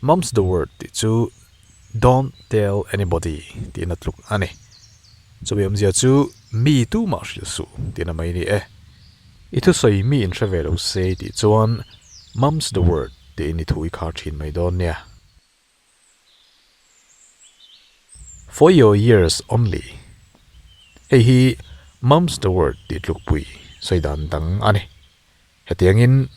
Mum's the word tih chu Don't tell anybody tiin a tluk a ni. Chumi awmzia chu mi tumah hrilh suh tiin a mai ni e. I thusawi miin hre ve lo se tih chuan Mum's the word tiin i thu i khar thin mai dawn nia. For your ears only. Hei hi Mum's the word tih tlukpui sawi dan dang a ni. Hetiangin,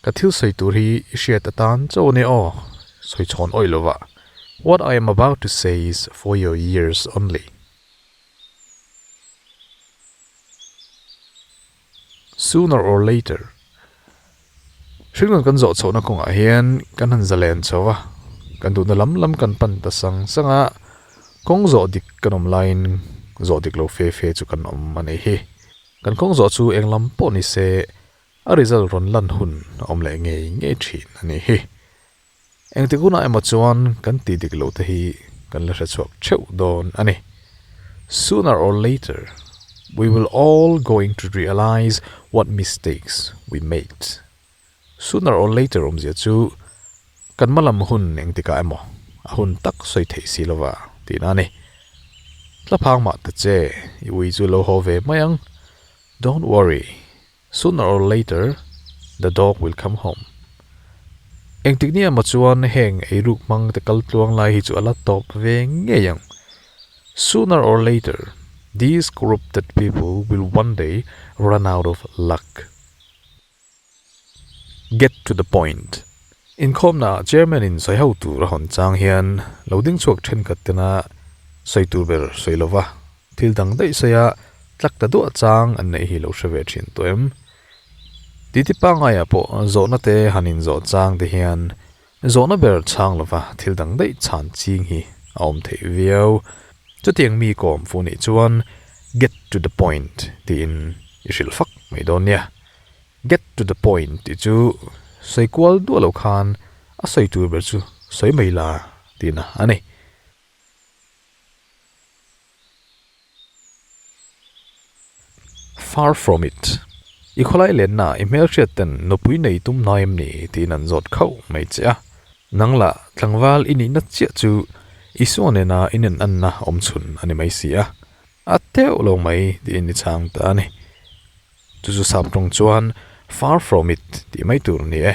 Ka thil sawi tur hi i hriat atan chauh ania aw, sawi chhawn awih lova, What I am about to say is for your ears only. Sooner or later, hringlun kan zawh chhohna kawngah hian kan han zalen chho va, kan duhna lam lam kan pan ta sang sang a, kawng zawh dik kan awm laiin zawh dik lo fe fe chu kan awm a nih hi. Kan kawng zawh chu eng lam pawh ni se, a result rawn lan hun a awm leh ngei ngei thin a nih hi. Engti gunah emaw chuan kan tih dik loh te hi kan la hrechhuak theuh dawn a ni. Sooner or later, we will all going to realise what mistakes we made. Sooner or later awmzia chu kan hmalam hun engtikah emaw a hun tak sawi theih si lova tih na a ni. Tla phang mah ta che, i ui chu lo haw ve mai ang. Don't worry, sooner or later the dog will come home. Engtik nia emaw chuan heng ei ruk hmang te kal tluang lai hi chu a la tawp ve ngei ang. Sooner or later these corrupted people will one day run out of luck. Get to the point. Inkhawmnaah Chairman-in sawi ho tur a hawn chang hian lo ding chhuak thenkhat tena sawi tur ber sawi lo va, thil dang daih sawi a tlak ta duah chang an neih hi lo hre ve thin tawh em? Titi pangngai ah pawh zawhnate han inzawh chang te hian Zawhna ber chhang lova thil dang daih chhan ching hi a awm theih viau. Chutiang mi kawm fuh nih chuan Get to the point tiin i hrilh fak mai dawn nia. Get to the point tih chu sawi kual duah loh khan a sawi tur ber chu sawi mai la tiin a ni. Far from it. I khawlai lennaah i hmelhriat ten nupui nei tum hna em ni? tiin an zawt khauh mai che a. Nang la, tlangval i nihna chiah chu Isua nena inenanna awm chhun a ni mai si a, a teuh lo mai tiin i chang ta a ni. Chu chu sap tawng chuan far from it tih mai tur a ni e.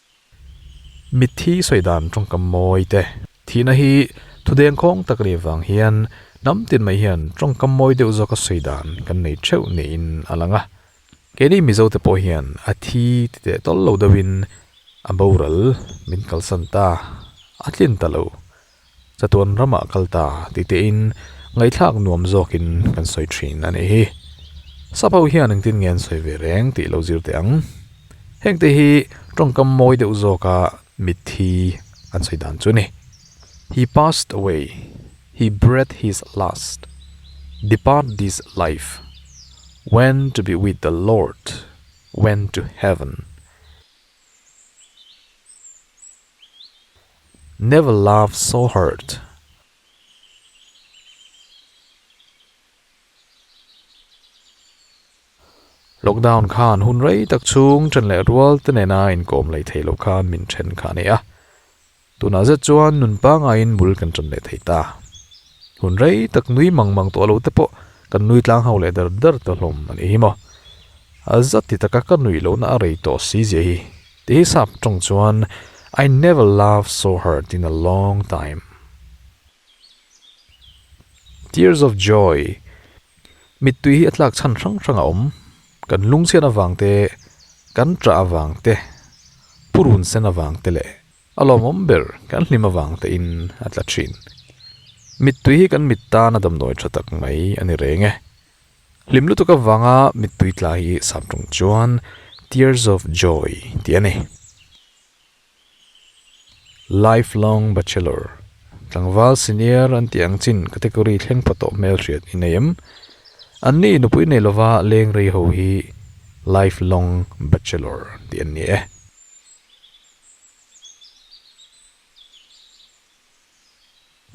Mitthi sawi dan tawngkam mawi te thihna hi thudeng khawng tak ri avang hian hnam tin mai hian tawngkam mawi deuh zawka sawi dan kan nei theuh niin a lang a. Keini Mizo te pawh hian a thi ti teh tawlh lo deuhin a boral min kalsan ta, a tlin ta lo. Chatuan ramah kal ta ti tein ngaihthlak nuam zawkin kan sawi thin a nih hi. Sap ho hian engtin ngen sawi ve reng tih lo zir teh ang. Hengte hi tawngkam mawi deuh zawka mithi an sawi dan chu ni. He passed away, he breathed his last, depart this life, went to be with the Lord, went to heaven. Never laughed so hard. Lockdown khan hun rei tak chhung then leh rual te nena inkawm lei thei loh khan min then kha a ni a. Tunah zet chuan nun pangahin bul kan tan leh thei ta. Hun rei tak nui mang mang tawh lo te pawh kan nui tlang ho leh der der ta hlawm a nih hi maw. A za ti taka ka nuih loh na a rei tawh si zia hi. Ti hi sap tawng chuan I never laughed so hard in a long time. Tears of joy. Mittui hi a tlak chhan hrang hrang a awm. Kan lungchhian avang te, kan ṭah avang te, purun sen avang te leh. A lawmawm ber kan hlim avang tein a tla thin. Mittui hi kan mit tan a damdawi tha tak mai a ni reng e. Hlim lutuk avanga mittui tla hi sam ṭung chuan Tears of Joy tih a ni. Lifelong Bachelor, Tlangval Senior an tih ang chin category thleng pha tawh hmel hriat i nei em? An nih i nupui nei lova leng rei ho hi Lifelong Bachelor tih an ni e.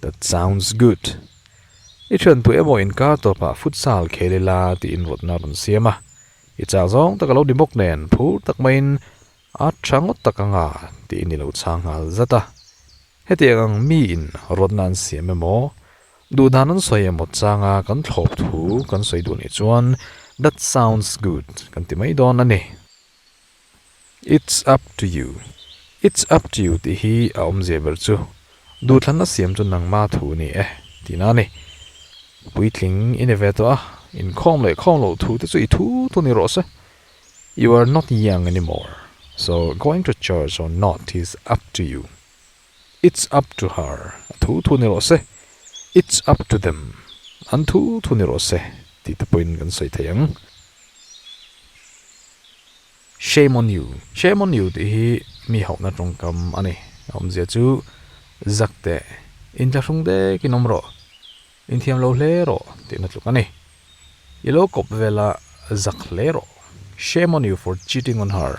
That sounds good. I thian tu emaw inkar tawp ah futsal khel ila tiin rawtna a rawn siam a. I chak zawng tak alo ni bawk nen phur tak mai in a tha ngawt tak anga tiin ilo chhang nghal zat a. Hetiang ang mi in rawtna an siam emaw duh dan an sawi emaw changa kan thlawp thu kan sawi duh nih chuan that sounds good kan ti mai dawn a ni. It's up to you. It's up to you tih hi a awm zia ber chu. Duhthlanna siam chu nangma thu a ni e tih na a ni. Puitling i ni ve tawh a, inkhawm leh khawm loh thu te chu i thu thu ni rawh se. You are not young anymore, so going to church or not is up to you. It's up to her, a thu thu ni rawh se, It's up to them, an thu thu ni rawh se, tih te pawhin kan sawi thei ang. Shame on you, shame on you tih hi mi hauhna tawngkam a ni. A awmzia chu, Zak teh, in tla hrung dekin awm rawh, in thiam lo hle rawh tih na tluk a ni. I lo kawp vela zak hle rawh, Shame on you for cheating on her.